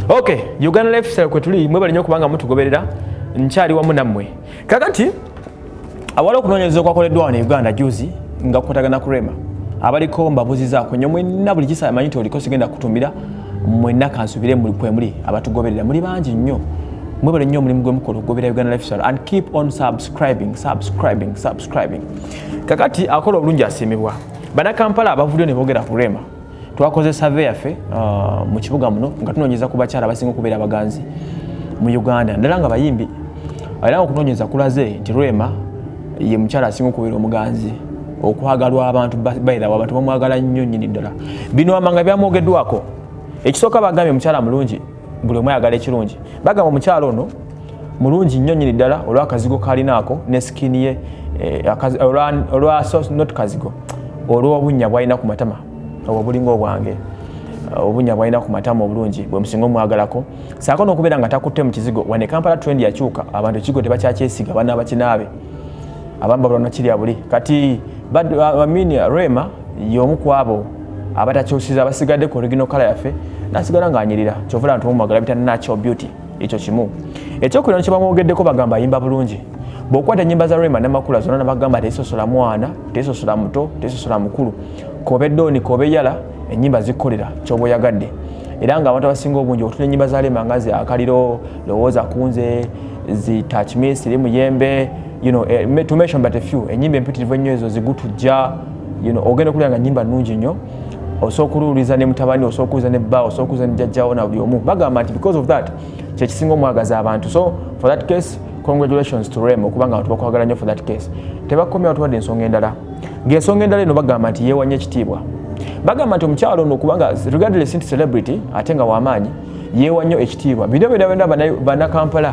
Okay, Uganda lifestyle kwetuli mwebale nyo kubanga mutugoberera nkyali wamu nammwe kakati awali okunoonyereza okwakoleddwa wano e uganda juzi nga kukwatagana ku rema abaliko mbabuzizaako nyo mwenna buli kisa amanyi nti oliko sigenda kutumira mwenna kansubire muli kwemuli abatugoberera muli bangi nnyo mwebale nnyo omulimu gwemukola okugoberera uganda lifestyle and keep on subscribing subscribing subscribing kakati akola obulungi asiimibwa banakampala abavudyo ne boogera ku rema twakoze save yaffe uh, mu kibuga muno nga tunoonyeza ku bakyala abasinga okubeera abaganzi mu uganda naddala nga bayimbi era nga okunoonyeza kulaze nti rema ye mukyala asinga okubeera omuganzi okwagalwa abantu bayirawo abantu bamwagala nnyo nnyini ddala bino amanga byamwogeddwako ekisooka bagambye omukyala mulungi buli omu ayagala ekirungi bagamba omukyalo ono mulungi nnyo nyini ddala olwakazigo kalinaako ne sikini ye eh, olwa not kazigo olwobunya bwalina ku matama obwo bulinga obwange eh, obunya bwalina ku matama obulungi bwe musinga omwagalako saako n'okubeera nga takutte mu kizigo wane kampala trend yakyuka abantu ekigo tebakyakyesiga bana bakinaabe abamu babula nokirya buli kati amini rema y'omu ku abo abatakyusiza abasigadde ku original kala yaffe nasigala ng'anyirira kyova laba tumumwagala bita natural beauty ekyo kimu ekyokubira no kyebamwogeddeko bagamba ayimba bulungi bwokwata enyimba za rema namakula zona nabagamba tezisosola mwana tezisosola muto tezisosola mukulu kobe doni kobe yala enyimba zikolera kyoba oyagadde era nga abantu abasinga obungi otula enyimba za rema nga zi akaliro lowooza kunze zi touch me siri muyembe you know, eh, to mention but a few enyimba empitirivu ennyo ezo zigutujja you know, ogenda kulira nga nyimba nungi nnyo osobola okuluwuliza ne mutabani osobola okuwuliza ne bba osobola okuwuliza ne jajjawo na buli omu bagamba nti because of that kyekisinga omwagaza abantu so for that case congratulations to rem okubanga abantu bakwagala nnyo for that case tebakomya watuwadde ensonga endala ng'ensonga endala eno bagamba nti yeewanya ekitiibwa bagamba nti omukyalo ono okubanga regardless nti celebrity ate nga wamaanyi yeewa nnyo ekitiibwa bino byona byona banakampala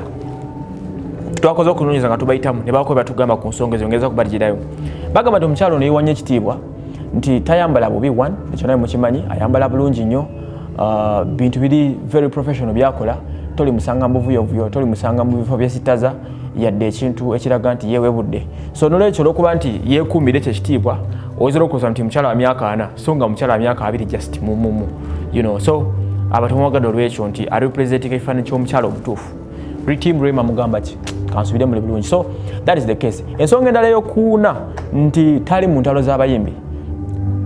twakoze okunonyeza nga tubayitamu nebako batugamba ku nsonga ezo ngeza kubaligirayo bagamba nti omukyalo neyiwa nnyo ekitiibwa nti tayambala bubi one ekyo naye mukimanyi ayambala bulungi nnyo uh, bintu biri very professional byakola toli musanga mubuvuyovuyo toli musanga mu bifo byesitaza yadde ekintu ekiraga nti yewebudde so nolwekyo olwokuba nti yekuumira ekyo ekitiibwa oyinza olwokuloza nti mukyala wa myaka ana so nga mukyala wa myaka abiri just mumumu you know so abatumwagadde olwekyo nti arepresentinga ekifaananyi ky'omukyala omutuufu Team Rema mugamba ki? Kansubire muli bulungi. So that is the case. Ensonga endala yokuuna nti tali mu ntalo z'abayimbi.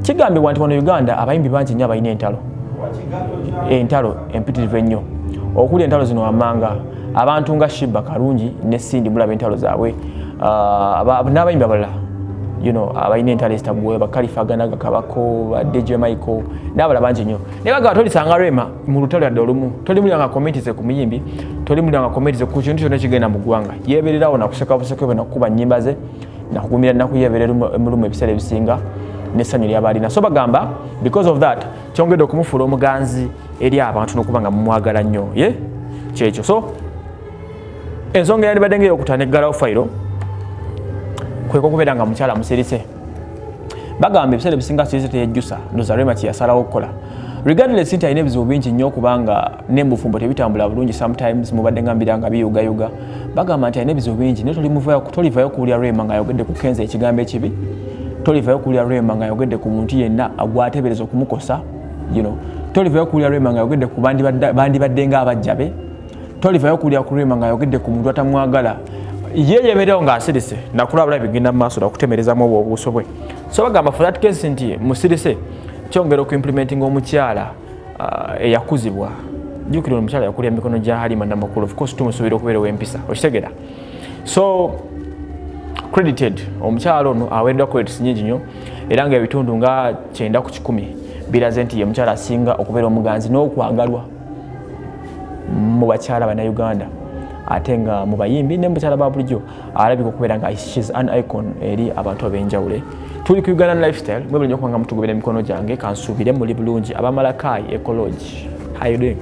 Kigambibwa nti wano Uganda abayimbi bangi nnyo abalina entalo. Entalo empitirivu ennyo. Okuli entalo zino wammanga abantu nga Shiba Karungi ne Cindy mulaba entalo zaabwe. Uh, n'abayimbi abalala you know abalina entalo ezitaggwewo bakalifa ganaga kabako ba DJ Michael n'abalala bangi nnyo. Naye bagaba tolisanga Rema mu lutalo yadde olumu toli mulya nga komenti ze ku muyimbi toli mulya nga komenti ze ku kintu kyonna kigenda mu ggwanga yeebererawo nakuseka buseko bwe nakukuba nnyimba ze nakugumira nnaku yeeberera mulumu ebiseera ebisinga n'essanyu lyaba alina so bagamba because of that kyongedde okumufuula omuganzi eri abantu n'okuba nga mumwagala nnyo ye kyekyo so ensonga yandibadde nga eyokutana eggalawo fayiro kweka okubeera nga mukyala musirise bagamba ebiseera ebisinga size teyejjusa dozarema kyeyasalawo okukola regardless nti alina ebizibu bingi nnyo okubanga nembufumbo tebitambula bulungi sometimes mubadde nga mbira nga biyugayuga bagamba nti alina ebizibu bingi naye tolivayo kuwulira rema ngaayogedde ku kenza ekigambo ekibi tolivayo kuwulira rema ngaayogedde ku muntu yenna agwatebereza okumukosa you know tolivayo kuwulira rema ngaayogedde ku bandibadde nga abajja be tolivayo kulya kurima nga yogedde ku muntu atamwagala ye yeberewo ng'asirise nakulabula bigenda mu maaso nakutemerezamu obwo obuuso bwe so bagamba for that case nti musirise kyongera okuimplementinga omukyala uh, eyakuzibwa jukira omukyala yakulya mikono gya halima namakulu ofcourse tumusuubira okubeerewo empisa okitegera so credited omukyala ono aweereddwa credits nyingi nyo era nga ebitundu nga kyenda ku kikumi biraze nti ye mukyala asinga okubeera omuganzi n'okwagalwa mu bakyala bannayuganda ate nga mu bayimbi ne mukyala ba bulijjo alabika okubeera nga shes an icon eri abantu ab'enjawule tuli ku uganda lifestyle mwebuli nyo kubanga mutugobera emikono gyange kansuubire muli bulungi abamalakaayi ecology how you doing